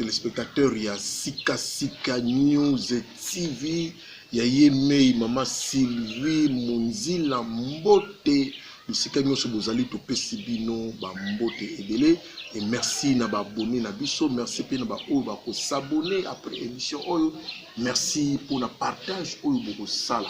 téléspectateur ya sika sika news tv ya ye mei mama sylvie monzila mbote bisika nyonso bozali topesi bino bambote ebele e merci na baabone na biso merci mpe na baoyo bakosabone après émission oyo merci mpo na partage oyo bokosala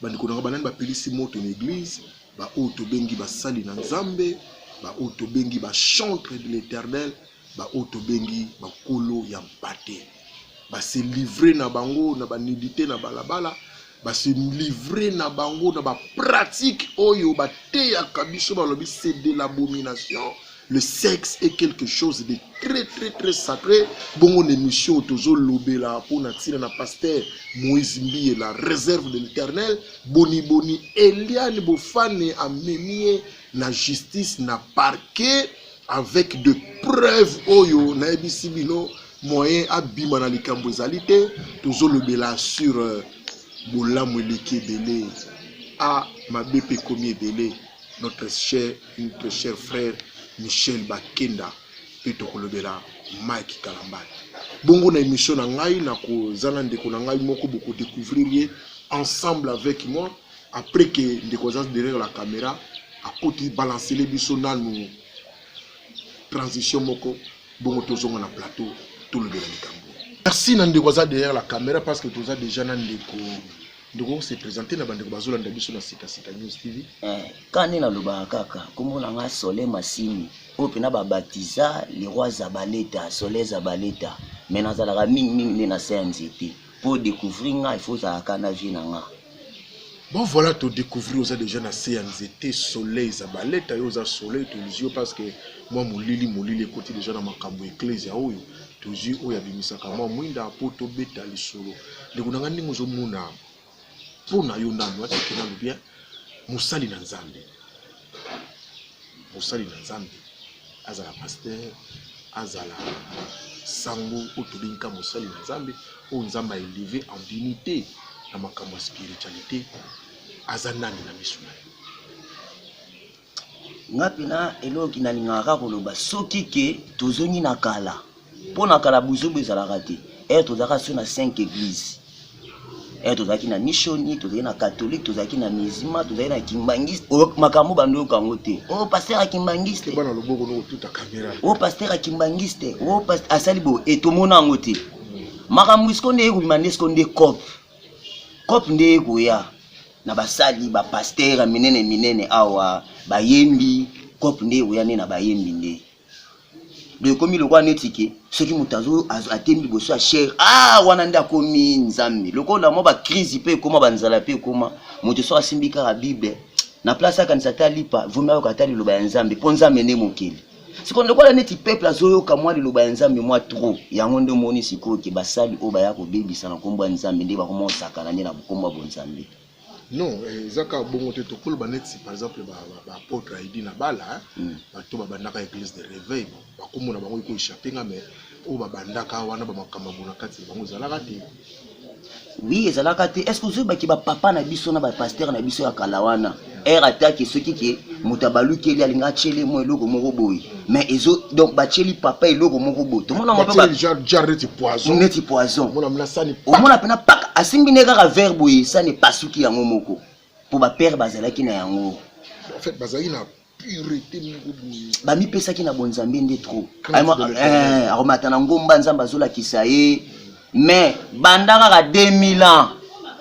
Bandeko na ngai banani bapelisi moto na eglize? Baoyo tobengi basali na Nzambe, baoyo tobengi bachantre de l'Eternel, baoyo tobengi bakolo ya mpate. Base livre na bango na banudite na balabala, base livre na bango na bapratike oyo bateyaka biso, balobi c'est de l'abomination. le sexe est quelque chose de très très très sacré bongo na émission oyo tozolobela mpo na ntina na pasteur moïse mbiye la réserve de l'éternel boniboni eliane bofane amemi ye na justice na parquet avec de preuve oyo nayebisi bino moyen abima na likambo ezali te tozolobela sur euh, bolamu eleki ebele a ah, mabe mpe ekomi ebele notre cher notre cher frère Michel Bakenda mpe tokolobela Mike Kalambay. Bongo na émission na ngai nakoza na ndeko na ngai moko boko découvrir ye ensemble avec moi après que ndeko aza derrière la caméra akoti balancele biso nanu transition moko bongo tozonga na plateau tolobela likambo. Merci na ndeko aza derrière la caméra parce que toza déjà na ndeko ndeko se presenter na bandeko bazolanda biso na sika sika news tv eh, kani nalobaka kaka nkombo na ngai sole masini oyo mpena babatiza leroy zabaleta sole zabaleta me nazalaka mingimingi nde na se ya nzete mpo découvrir ngai ifo ozalaka na vie na ngai bon voilà to découvrir oza déjà na se ya nzete soleil zabaleta yo oza soleil tolizio parce que mwa molili molili ekoti déjà na makambo ya eklesia oyo tozwi oyo abimisaka mwa mwinda mpo tobeta lisolo ndeko na ngai ndenge ozomona mpo na yo nanu atike nanu bien mosali na nzambe mosali na nzambe azala paster azala sango oyo tobengi ka mosali na nzambe oyo nzambe aeleve en dignité na makambo ya spiritualité aza nani na miso na yo nga pena eloko kinalingaka kaka koloba soki ke tozongi na kala mpo na kala buzoba ezalaka te ere tozalaka so na 5 eglise ere tozalaki na mishoni tozalaki na katholike tozalaki na mizima tozalaki na kimbangiste makambo bando yoka yango te o oh, paster ya kimbangiste o oh, paster ya kimbangiste o oh, asali bo etomona yango te makambo esiko nde ekobima nde esiko nde cope cope nde ekoya na basali ba pasteur ya minene minene awa bayembi cope nde ekoya nde na bayembi nde do ekomi lokola neti ke soki moto azo atemi liboso ya chere ah wana nde akomi nzambe lokola mwa bakrizi mpe ekoma banzala mpe ekoma moto soki asimbi kaka bible na place akanisa ata lipa vomi ayoka ata liloba ya nzambe mpo nzambe nde mokeli sikoyo lokola neti peuple azoyoka mwa liloba ya nzambe mwa trop yango nde omoni sikoyo ke basali oyo baya kobebisa na nkombo ya nzambe nde bakoma osakana nde na nkombo ya bonzambe non eh, eza kaka bongo te tokoloba neti par exemple baapotre aidi na bala hmm. bato babandaka église de réveil bakomona bango ekoechappe nga mais oyo babandaka wana bamakambo na kati na bango ezalaka te Oui, ezalaka te. Est-ce que vous avez ba papa na biso na ba pasteur na biso ya kala wana? Erre attaque ce qui est mutabalu keli alinga chele mo eloko moko boyi. Mais ezo donc ba cheli papa eloko moko boyi. Tout le monde m'a pas genre genre neti poison. Neti poison. Mona mna sani. O mona pena pak asimbi ne kaka verre boyi sani pasuki yango moko. Po ba père bazalaki na yango. En fait bazalaki na purete moko boye bamipesaki na bonzambe nde trop eh, akomata na ngomba nzambe azolakisa ye mais banda kaka 2000 ans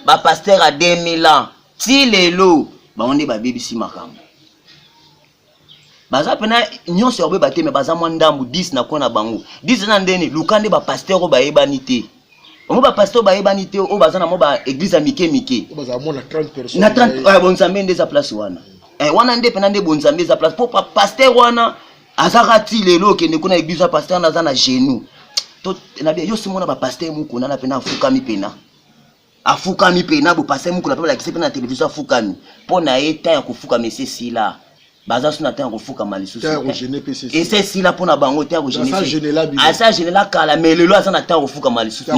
bapaster ya 2000 ans ti lelo bango nde babebisi makambo baza mpena nyonso ya kobe bateme baza mwa ndambu 10 na kona bango 10 na ndeni luka nde bapaster oyo bayebani te bango bapasteur oyo bayebani te oyo baza na mwa baeglise ya mike mike na 30 ah, bonzambe nde eza place wana eh, wana nde mpena nde bonzambe eza place mpo pasteur wana azaka ti lelo okende kuna eglise ya pasteur wana aza na genou yo simona bapasteur mokuna na mpena afukami mpena afukami mpe na bopase mukuna mpe balakisi mpe na televizio afukami mpo na ye ntango ya kofukama esi esila baza so na ntango ya kofukama lisusu esi esila mpo na bango ntango asi agenela kala me lelo aza na ntango ya kofukama lisusu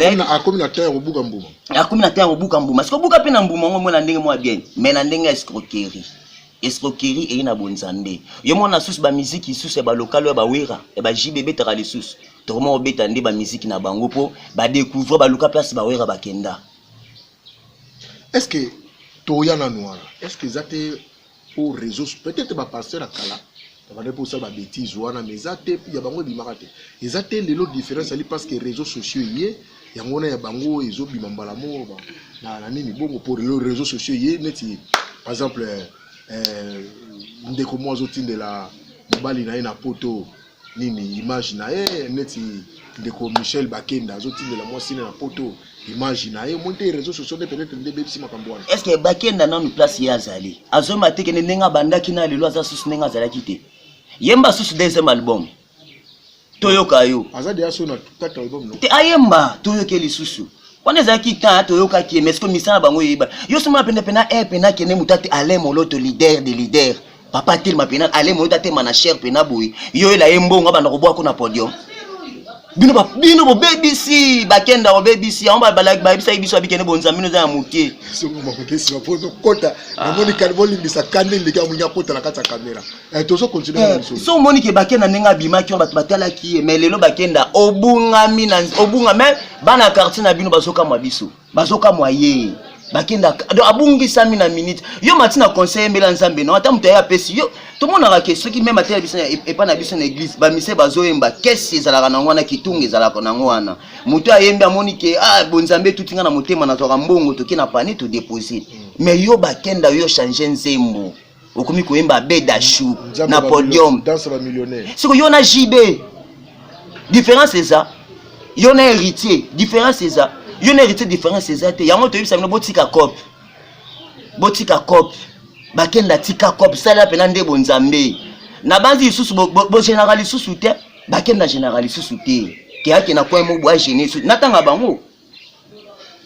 akomi na ntango ya kobuka mbuma sikobuka mpe na mbuma yango mona ndenge mwa bien me na ndenge ya escroquerie Escroquerie eye na bonzambe. Yo mwana susu ba musique isusu ya ba local ya ba wera ya ba JB betaka lisusu. Tokoma obeta nde ba musique na bango po ba découvrir ba luka place ba wera bakenda. Est-ce que toya nanu wana? Est-ce que eza te po réseaux peut-être ba pasteur ya kala babandaki mpe kosala babetise wana mais eza te ya bango ebimaka te eza te lelo différence ali parce que réseau sociaux eye yango wana ya bango ezobima mbala moko na nini bongo mpo lelo réseau sociaux eye neti par exemple eh, ndeko moko azotindela mobali na ye na poto nini image na ye neti ndeko michel bakenda azotindela mwasi na poto image na ye omoni te réseau sociaux nde peut-être nde ebebisi makambo wana est ce que bakenda nanu place ye azali azomba atekende ndenge abandaki na lelo aza susu ndenge azalaki te yemba susu deuxième album toyoka yo aza deya so na quatre album no te ayemba toyoke lisusu wana ezalaki temps toyokaki ye mais sikoyo misala bango eyeba yo somona penepena e pena kende moto ate alain moloto leader de leader papa atelema pena ale moyo tatema na cher pena boye yo ela ye mbongo abanda koboya ko na podium bino ba bino bo BBC ba kenda ko BBC yango ba balaki ba bisa biso abikene bonza bino za mutie somo ba kesi ba poto kota ah. na moni kalbo limbisa kande ndika munya kota na kata kamera eh tozo continuer na eh, biso so moni ke ba kenda nenga bima ki ba batala ki mais lelo ba kenda obunga mina obunga mais bana quartier na bino bazoka mwa biso bazokamwa ye bakenda donc abungisami na minute yo mati na conseil mbela nzambe no ata moto aye apesi yo tomonaka ke soki meme ata biso epai na biso na eglise bamise bazoyemba kesi ezalaka nango wana kitunga ezalaka nango wana moto ayembi amoni ke ah, bonzambe etuti nga na motema nazwaka mbongo toke na pani todepose mais yo bakenda yo change nzembo okomi koyemba beda chou na podium siko yo na jb différence eza yo na héritier différence eza yo na héritier différence eza te yango toyebisa bino botika cope botika cope bakenda tika cope salela mpena nde bonzambe nabanzi lisusu bogenerale lisusu te bakenda generale lisusu te keyake na coin mo boagene lisusu natanga bango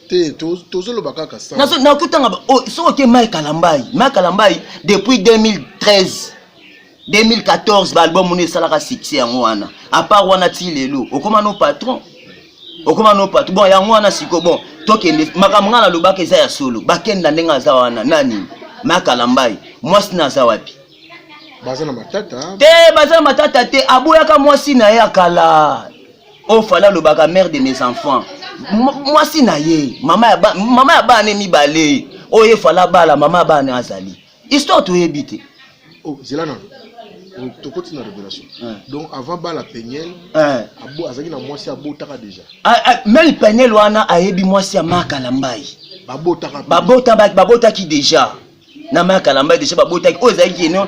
te tozoloba kaka nakotanga oh, soki oke mai kalambai mai kalambai depuis 2013 2014 baalbum wana esalaka succès yango wana apart wana ti lelo okoma no patron okoma no patron bon yango wana siko bon tokende makambo ngai nalobaka eza ya solo bakenda ndenge aza wana nani mai kalambai mwasi na aza wapi baza na matata te baza na matata te aboyaka mwasi na ye ya kala oyo oh, fali alobaka mare de mes enfants mwasi na ye mama ya bana ne mibale oyo oh, ye fali abala mama ya bana azali histoire toyebi te oh, zela nano tokoti na révélation donc avant bala peniel azalaki na mwasi abotaka déjà ah, ah, meme peniel wana ayebi mwasi ya maka na mbai babotaki déjà na maya kalamba deja babotaki oyo ezalaki eno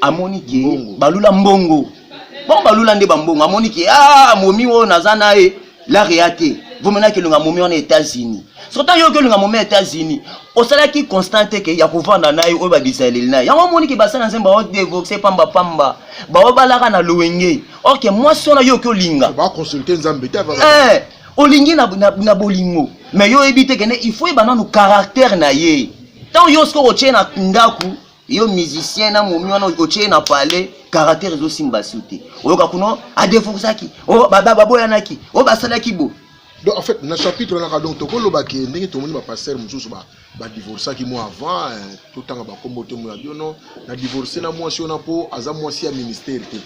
amoni ke balula mbongo bon balula nde bambongo amoni ke ah momi oyo naza na ye lare ya te vomena kelonga momi wana etats-unis sota yo okelonga momi ya etats-unis osalaki constant te ke ya kovanda na ye oyo babisa eleli na ye yango omoni ke basala nzembo bao devoxe pamba pamba bao balaka na loenge orke mwasi wana yo oke olinga eh, olingi na, na, na bolingo me yo oyebi te kende il faut yeba nanu caractère na ye ntango yo soki otie na ndako yo musicien na momi wana otie na palais caractère ezosimba su te oyoka kuna adeforsaki o oh, baboyanaki o oh, basalaki bo donc en fait na chapitre wana kaka donc tokoloba ke ndenge tomoni bapastere mosusu badivorcaki mwa avant eh, totanga bakombo te moya biono na divorce na mwasi wana mpo aza mwasi ya ministère te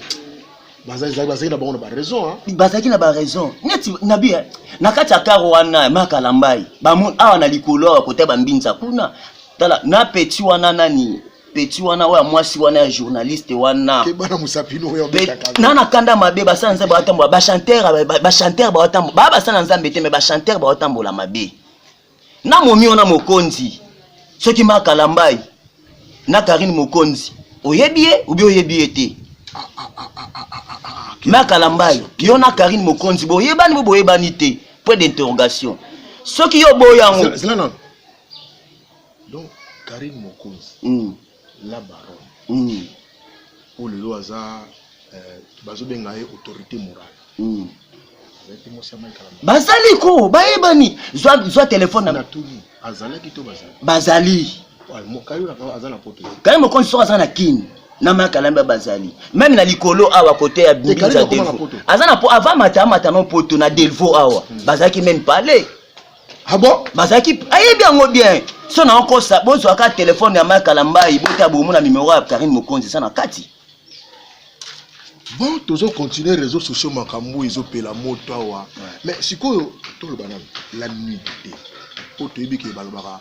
bazalaki bazalaki na bango na baraison hein. bazalaki na baraison neti nabi eh, na kati ya karo wana makalambai bamoni awa na likolo awa kota bambinza kuna tala na peti wana nani peti wana oyo ya mwasi wana ya journaliste wana na na kanda mabe basala nzambe baotambola bachanteur bachanteur baotambola baa basala nzambe te me bachanteur baotambola mabe na momio na mokonzi soki ma kalambai na karine mokonzi oyebi ye obi oyebi ye te ma kalambai yo na karine mokonzi boyebani bo boyebani te point d'interrogation soki yo oboyi yango donc karine mokonzi mm. la baronne mm. po lelo aza eh, bazobenga ye autorité morale mm. bazali ko bayebani zwa, zwa telefone na tuni azalaki to bazali bazali kaye mokonzi soko aza na kini na makalamba bazali meme na likolo awa kote ya binza delvo aza na po avant mata amata no poto na delvo awa hmm. bazalaki meme pale Ah bon? Bazalaki ayebi yango bien. So na okosa bozwaka telefone ya Mike Kalambayi bota bomona numero ya Karine Mokonzi eza na kati. Bon, tozo continuer réseaux sociaux makambo ezopela moto awa. Mais sikoyo toloba nanu la nuit te. Po toyebi ke balobaka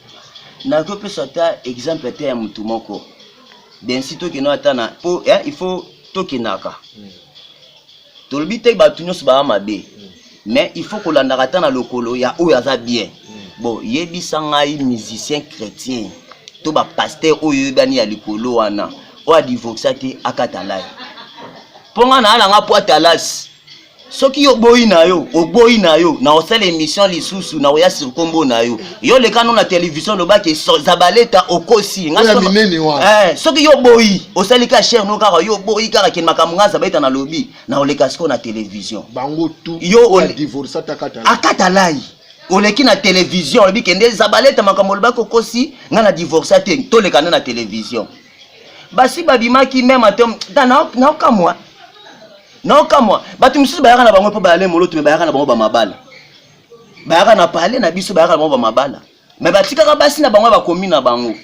nazopesa ata exemple ata ya motu moko densi tokenda ata na po eh, il faut tokendaka mm. tolobi te bato nyonso baa mabe mm. mais il faut kolandaka ata na lokolo ya oyo aza bien mm. bon yebisa ngai musicien chrétien to bapaster oyo oyebani ya likolo wana oyo adivorsa te akatalai mpo ngai naalanga po atalasi soki yo oboyi na yo oboyi na yo na osala émission lisusu na oya sur kombo na yo yo leka no na télévision lobaki zabaleta okosi nga eh, soki yo oboyi osali ka chaire no kaka yo oboyi kaka kende makambo nga zabaleta na lobi na oleka siko na télévision bango tout yo divorce atakata akata lai oleki na télévision olobi kende zabaleta makambo olobaki okosi nga na divorce te toleka nde na télévision basi babimaki meme atom naokamwa naokamwa bato mosusu bayaka na bango mpo bayale moloto me bayaka na bango bamabala bayaka na pale na biso bayaka na bango bamabala me batikaka basi na bango bakomi na bango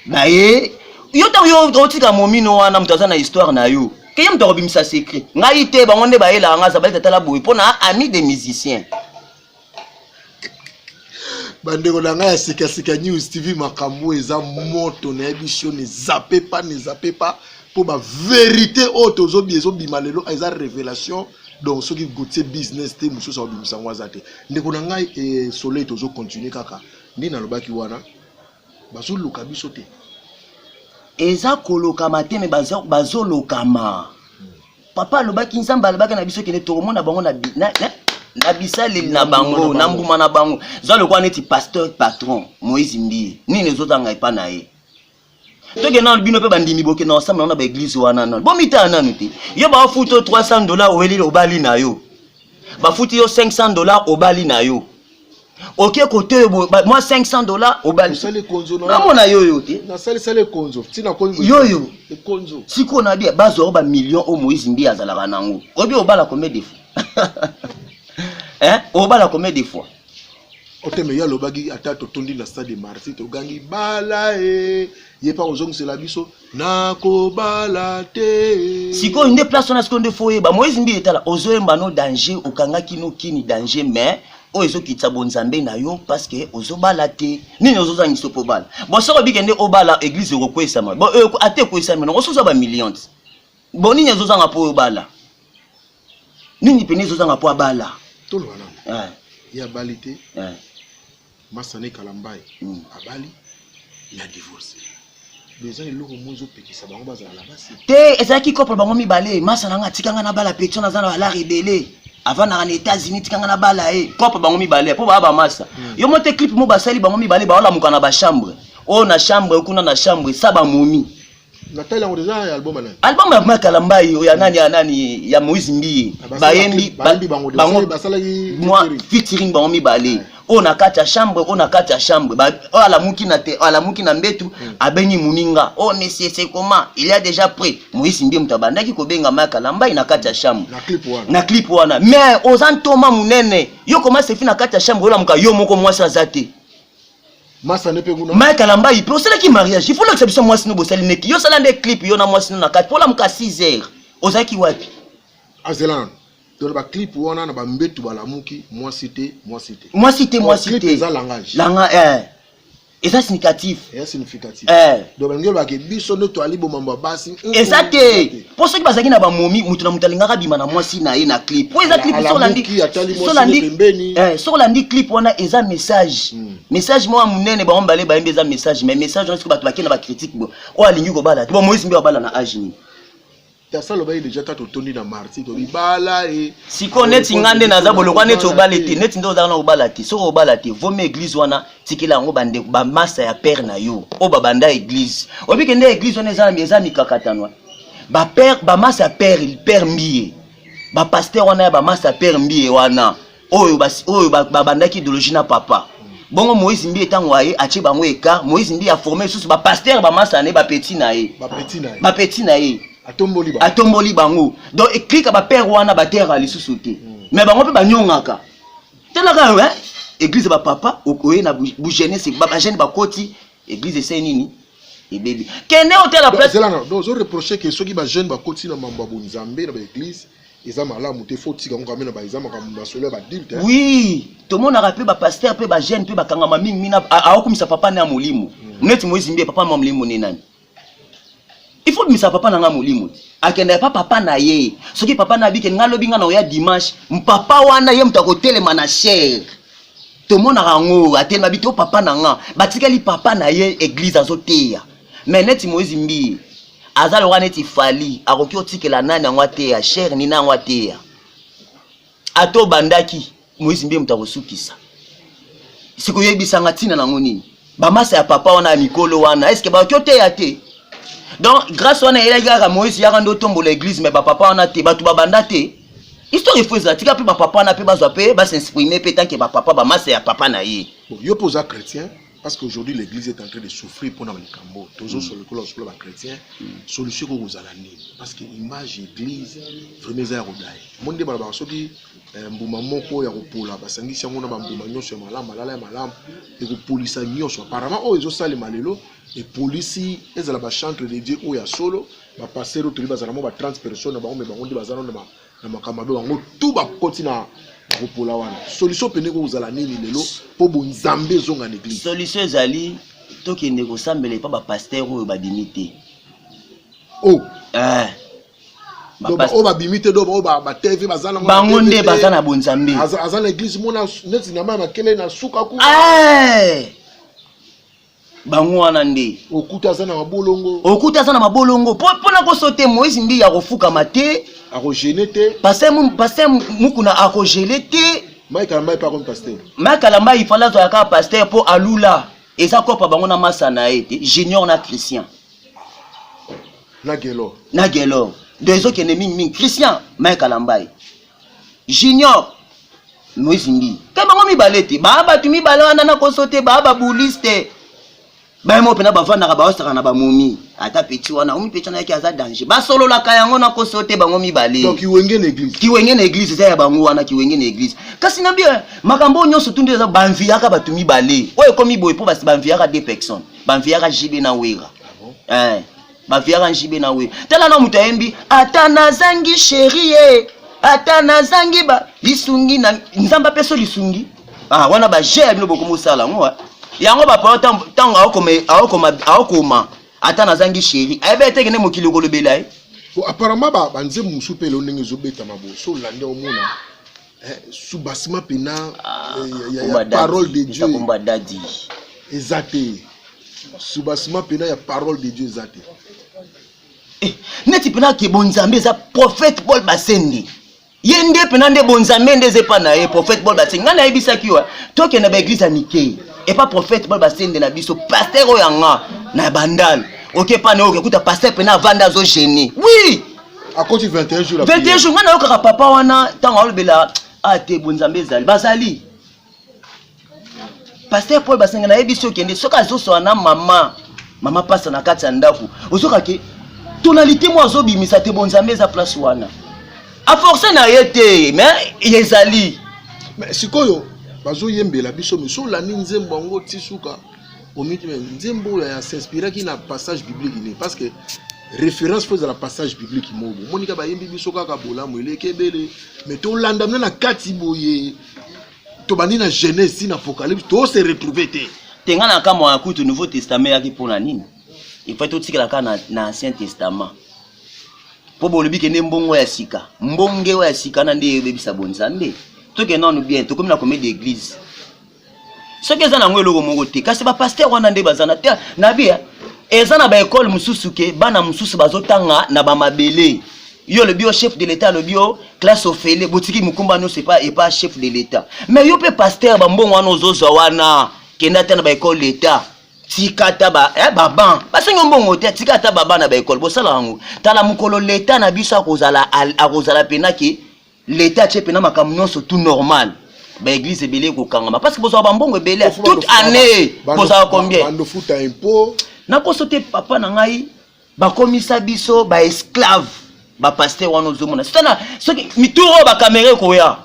baye yo ntango yo otika momino wana moto aza na histoire na yo keye moto akobimisa secret ngai te bango nde bayelaka ngai azabaleta tala boye mpo na ami de musicien bandeko na ngai ya sikasika news tv makambo eza moto nayebi sioni ezape pa na ezape pa mpo baverité oyo tozobi ezobima lelo eza révélation donc soki gotie business te mosusu akobimisa yango aza te ndeko na ngai e soleil tozocontinue kaka nde nalobaki wana bazoluka biso te eza kolokama te me bazolokama bazo papa alobaki nzambe alobaki na biso kende tokomona bango na, na, na, na bisaleli na bango na mbuma na bango zwa lokola neti pasteur patron moïse mbiye nini ezotanga epa na ye toke nano bino mpe bandimi boke na osambela na baeglize wana nano bomitala nano te yo baofuto 300 dola oweleli obali na yo bafuti yo 500 dollars obali na yo oke kote oyo mwa 500 dollars obalinamona yoyo te yoyo sikoyo na bia bazwao bamillion oyo moïse mbi azalaka na yango obi obala combien de fois eh? obala combien de fois oteme ye alobaki ata totondi na stade de marti togangi bala e ye mpe akozongisela biso nakobala te sikoyo nde place wana sikoyo nde fo oyeba moise mbi etala ozoyemba no danger okangaki no kini danger mais oyo ezokitisa bonzambe na yo parceke ozobala te nini ozozangisa okobala bo soki obike nde obala eglize ekokweyisama euh, ata ekweyisami nango soza bamillion ti bo nini ezozanga mpo obala nini mpena ezozanga mpo abala tolobana ya bali te Masane Kalambay abali mais a divorce. Eza eloko moko ezopekisa bango bazala na basi te. Ezalaki couple bango mibale. Masa na nga atika nga na bala petion aza na balare ebele avandaka na États-Unis tika nga na bala ye. Couple bango mibale mpo baa bamasa. Hmm. Yo mote clip mo basali bango mibale baolamuka na bachambre oyo na chambre kuna na chambre sa bamomi natali yango deja ya album nani album ya ma kalambayi oyo ya nani ya nani ya moïse mbiye ah, bayembi bango featuring bango mibale oyo na kati ya chambre oyo na kati ya chambre oyo alamuki na te alamuki na mbetu hmm. abengi moninga oyo oh, monsieur c'est comment il y a déjà près moïse mbiye moto abandaki kobenga ma kalambayi na kati ya chambre na clip wana mais oza ntoma monene yo koma sefi na kati ya chambre olamuka yo moko mwasi aza te masane mpe kuna mike alambai mpe osalaki mariage ifo olakisa biso mwasi no bosali neki yo osala nde clip yo na mwasi no na kati mpo olamuka 6 heures ozalaki wapi azela nano tona baclip wana na bambetu balamuki mwasi te mwasi te mwasi te mwasi te eza langage langa eh. eza significatif eza significatif eh. donc balingi olobake biso nde toali bomambo ya basi eza te mpo soki bazalaki na bamomi moto na moto alingaka abima na mwasi na ye na clip mpo eza clip soki olandi clip wana eza message hmm. message moko monene bango mibale bayembi eza message mais message wana soki bato bakei na bacritique bo oyo alingi kobala te bo moïse mbe abala na age nini tasa alobaki deja kaka totondi na marti to libala e sikoyo neti nga nde naza bolokwa neti obala te neti nde ozalaka na obala te soki obala te vomi eglise wana tikela yango bandeko bamasta ya père na yo oyo babanda eglise oyebi kende eglise wana eza eza mikakatanwa bapère bamasta ya père père mbiye bapaster wana ya bamasta ya père mbiye wana oyo oyo babandaki idéologie na papa bongo moïse mbiye ntango aye atie bango écart moïse mbiye aforme lisusu bapaster bamasta na ye bapeti na ye bapeti na ye atomboli bango donc eklika bapère wana bateraka lisusu te hmm. mais bango mpe banyongaka tala kaka hein église ba papa okoye na bu jeunesse ba jeune ba koti église ese nini ebebi kende otala place zela na donc zo reprocher que soki ba jeune ba koti na mambo ya bonzambe na ba église eza malamu te faut tika ngambe na ba eza makambo na solo ya ba dilte oui tomonaka pe ba pasteur pe ba jeune pe bakangama mingi mina aokumisa papa na molimo hmm. neti moizi mbe papa na molimo ne nani il faut bimisa papa na nga molimo akenda epa papa na ye soki papa na abike nga lobi nga na oya dimanche mpapa wana ye moto akotelema na chere tomonaka yango atelema bito papa na nga batikali papa na ye eglize azoteya me neti moise mbiye aza lokola neti fali akoki otikela nani yango ateya chere nina yango ateya ata obandaki Moïse mbiye moto akosukisa siko oyebisanga ntina nango nini bamasa ya papa wana ya mikolo wana eske bakoki oteya te donc grâce wana eyelaki kaka moïse yaka nde otombola église mais bapapa wana te bato babanda te histoire efo ezala tika mpe bapapa wana mpe bazwa mpe basexprime mpe tanke bapapa bamasa ya papa na ye yo mpe oza chrétien parce que aujourd'hui l'église est en train de souffrir mpona likambo oyo tozosolo lokola osokola bachrétien solution ekoki kozala nini parce que image église vraiment eza ya kodai omoni nde balobaka soki eh, mbuma moko ya kopola basangisi yango na bambuma nyonso ya malamu malala ya malamu ekopolisa nyonso apparemment oyo ezosalema lelo epolisi ezala bachantre de dieu oyo ya solo bapastere oyo toyebi bazala mo ba 30 personnes na bango me bango nde baza nano na makambo mabe bango tu bakoti na kopola wana solution pene kozala nini lelo mpo bonzambe ezonga na eglise solution ezali tokende kosambela epa bapaster oyo babimi te o oh. eh. oyo babimi te oyo batv baza na bango nde baza na bonzambe aza na eglise mona neti na mai makele na suka kuna eh. bango wana nde okuta aza na mabolongo okuta aza na mabolongo mpo na kosote moïse mbiya akofukama te akogene te paster mukuna akogele te maikalamba epa komi paster maikalamba ifale azwaka kaka paster mpo alula eza kopa bango na masa na ye te junior na christian na gelor na gelor donc ezokende mingi mingi christian maikalamba ye junior moise mbi te bango mibale te baa bato mibale wana na koso te baa babulis te bayemo mpena bavandaka baosaka na bamomi ata peti wana omi peti wana yaki aza danger basololaka yango na koso te bango mibale kiwenge na eglise kiwenge na eglise eza ya bango wana kiwenge na eglise kasi na bie makambo oyo nyonso tundi eza banviaka bato mibale oyo ekomi boye mpo basi banviaka de personne banviaka jb na wera ah bon? eh. baviaka njibe na we tala na moto ayembi ata nazangi sheri ye ata nazangi ba lisungi na nzambe apeso lisungi ah, wana baje ya bino bokomi osala yango ah. yango bapolo ntango aokoma ata nazangi sheri ayebi ete kende mokili okolobela ye apparemment banzembo mosusu mpe elo ndenge ezobetama boso olandi omona eh, sous bassement pena ah, eh, ya, ya, ya parole de dieu kumba dadi eza te sous bassement pena ya parole de dieu eza te eh, neti pena ke bonzambe eza prophète paul basende ye nde pena nde bonzambe nde eza epa na ye prophète paul basende ngai nayebisaki yo tokende baeglise ya mike epa prophète paul basende na biso paster oyo yanga na bandal oke epa na yo okekuta paster pena avanda azogene wi oui! akoti 21 jours 21 jours nga nayokaka papa wana ntango alobela ah te bonzambe ezali bazali paster paul basenga nayebi soki okende soki azosola na mama mama pasa na kati ya ndako ozokake tonalité moko azobimisa te bonzambe eza place wana aforce na ye te mais ezali sikoyo bazoyembela biso miso olandi nzembo yango ti suka omiti me nzembo oyo ya s'inspiraki na passage biblique nini parce que référence mpo ezala passage biblique moko omoni ka bayembi biso kaka bolamu eleki ebele me tolanda mna na kati boye tobandi na genèse ti na apocalypse tose retrouve te te ngai na kamwa ya kutu nouveau testament eyaki mpo na nini efai totikala kaka na, na ancien testament mpo bolobi kende mbongo ya sika mbonge oyo ya sika na nde ebebisa bonzambe tokende nanu bien tokomi na komedi eglise soki eza nango eloko moko te kasi bapaster wana nde baza na te na bia eh, eza na baekole mosusu ke bana mosusu bazotanga na bamabele yo olobi yo chef de l'état alobi yo classe ofele botiki mokumba nyonso epa epa chef de l'état mais yo mpe paster bambongo wana ozozwa wana kenda ata na baekole d'état tika ata ba eh, baban basengi mbongo te tika ata baba na baekole bosala yango tala mokolo leta na biso akozala akozala mpena ke L'etat atie pena makambo nyonso tout normal ba église ebele ekokangama parce que bozala bambongo ebele toute année bozala combien nakoso te papa na ngai bakomisa biso baesclave bapaster wana ozomona sitana soki mituro oyo bakamera ekoya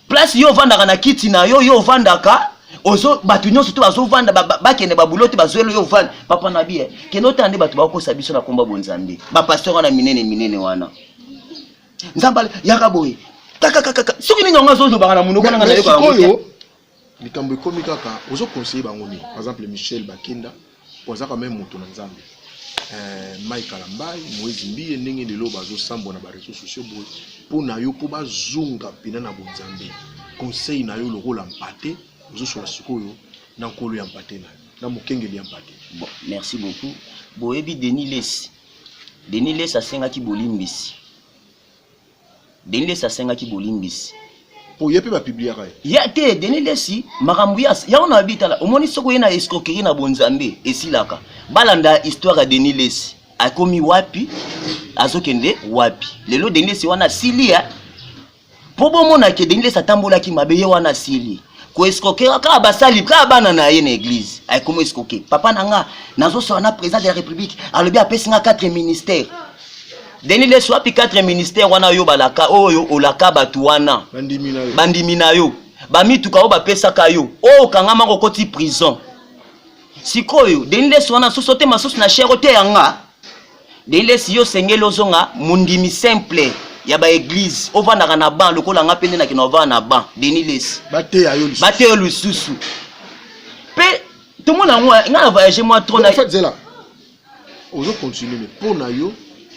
place yo ovandaka na kiti na yo yo ovandaka ozo bato nyonso to bazovanda bakende babulo te bazweli yo ovanda papa na biye eh, kende otala nde bato bakokosa biso na komba bonzambe bapaster wana minene minene wana nzambe yaka boye kakakaka soki nini yango azolobaka na monoko nanga nayokaoyo likambo ekomi kaka ozo conseille bango nini par exemple michel bakenda po aza quand même moto na nzambe eh, mai kalambai moise mbiye ndenge lelo bazosambwa na bareseau sociaux boye mpo na yo mpo bazonga mpena na bonzambe conseil na yo lokola mpate ozosola sikoyo na nkolo ya mpate na yo na mokengeli ya mpate bon, merci beaucoup boyebi denis lesi Denis Lessi asengaki bolimbisi. Denis Lessi asengaki bolimbisi. Po ye pe ba publiaka ye. Ya te Denis Lessi makambo ya yango na bitala omoni soko ye na escroquerie na bonzambe esilaka. Balanda histoire ya Denis Lessi. Akomi wapi? Azokende wapi? Lelo Denis Lessi wana asili ya mpo bomona ke denilesi atambolaki mabe ye wana asili koescroke kaka basali kaka bana na ye na eglize ayekomi escroke papa na nga nazosola na président de la république alobi apesi nga 4 ministère deni lesu wapi 4 ministère wana yo balaka oyo olaka bato wana bandimi na yo bamituka oyo bapesaka yo oyo okangama kokoti prison sikoyo deni lesu wana soso te masusu na shero te yanga Delesi yo sengeli ozonga mondimi simple ya ba eglise ovandaka na ban lokola nga mpe nde nakende ovanda na ban Denis Lesi bateya yo lisusu bateya yo lisusu mpe tomona yango eh, nga na voyage mwa trop na zela ozo continue mais mpo na yo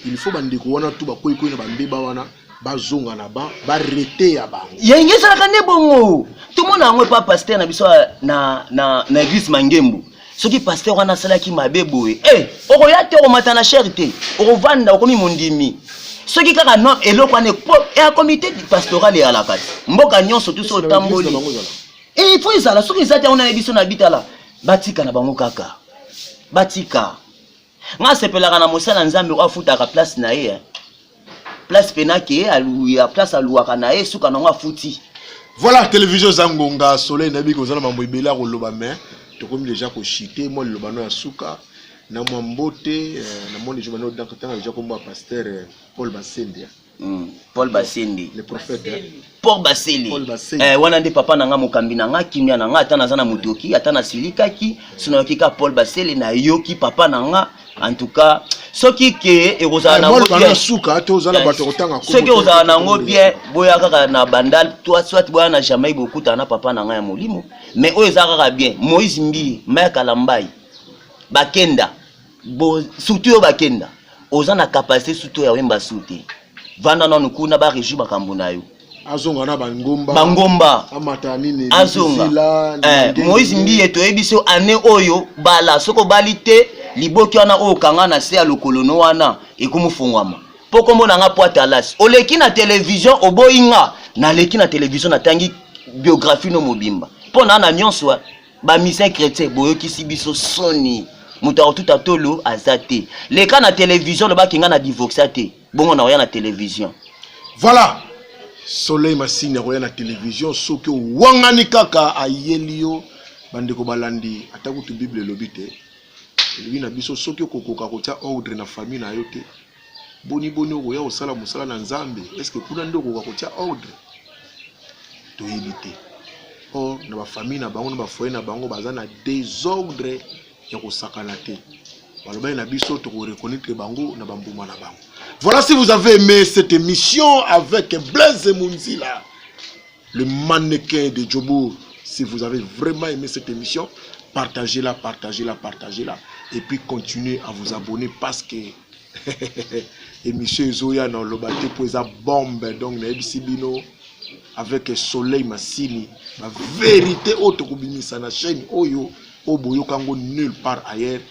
il faut bandeko wana tu bakweikwei na bambeba wana bazonga na ba ba rete ya bango yenge ezalaka nde bongo tomona yango epa pasteur na biso na, na, na eglise mangembo soki pasteur wana asalaki mabe boye e eh, okoya te okomata na shere te okovanda okomi mondimi soki kaka no eloko wana ya eh, comité pastoral eyalaka te mboka nyonso tuso otamboli eh, il faut ezala soki eza te yango nayebi so na bitala batika na bango kaka batika Nga sepelaka na mosala Nzambe oyo afutaka place na ye. Place pena ke aluya place aluaka na ye suka nango afuti. Voilà télévision Zangonga Soleil nabi ko zala mambo ebele ko loba mais tokomi déjà ko chiter moi le lobano ya suka na mwa mbote euh, na moni joba no donc tanga déjà kombo pasteur euh, Paul Basembia. Mm. Paul Basende. Le prophète. Hein? Paul Basende. Paul Basende. Eh, wana nde papa na nga mokambi na nga kimia na nga ata naza na motoki ata nasilikaki soki nayoki kaka Paul Basele nayoki papa na nga en tout cas soki ke ekozala eh, nango bien suka te ozala bato kotanga soki ozala nango bien boya kaka na bandal toi soit boya na Jamaïque bokutana na papa na nga ya molimo mais oyo eza kaka bien Moïse Mbiye Maya Kalambayi Bakenda bo surtout yo bakenda oza na capacité surtout ya wemba su te vanda nanu kuna ba régi makambo na yo azonga na bangomba bangomba amata nini azonga eh, moïse mbiye toyebi so année oyo bala soki obali te liboki wana oyo okanga na se ya lokolono wana ekomofongwama mpo nkombo na nga poata alasi oleki na televizio oboyi nga naleki na televizio natangi biographie no mobimba mpo na na nyonso ba musicien chrétien boyokisi biso soni moto akotuta tolo aza te leka na televizio olobaki ngai na divoxa te bongo nakoya na televizio voilà soleil masini akoya na televizio soki owangani kaka ayeli yo bandeko balandi ata kutu bible elobi te elobi na biso soki okokoka kotya ordre na famille na yo te boni boni okoya kosala mosala na nzambe eske kuna nde okoka kotia ordre toyebi te or na bafamille na bango na bafoye na bango baza na desordre ya kosakana te balobaki na biso tokoreconnaitre bango na bambuma na bango voilà si vous avez aimé cette émission avec blaise munzila Le mannequin de Djobour, si vous avez vraiment aimé cette émission, partagez-la, partagez-la, partagez-la. Et puis continuez à vous abonner parce que émission Ezoya dans le bateau pour esa bombe. Donc, n'ayebisi bino avec soleil masini. La vérité autre kobimisa na chaîne oyo oyo boyoka yango nulle part ailleurs.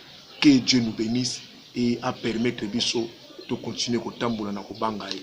Que Dieu nous bénisse et a permettre biso to continuer kotambola na kobanga ye.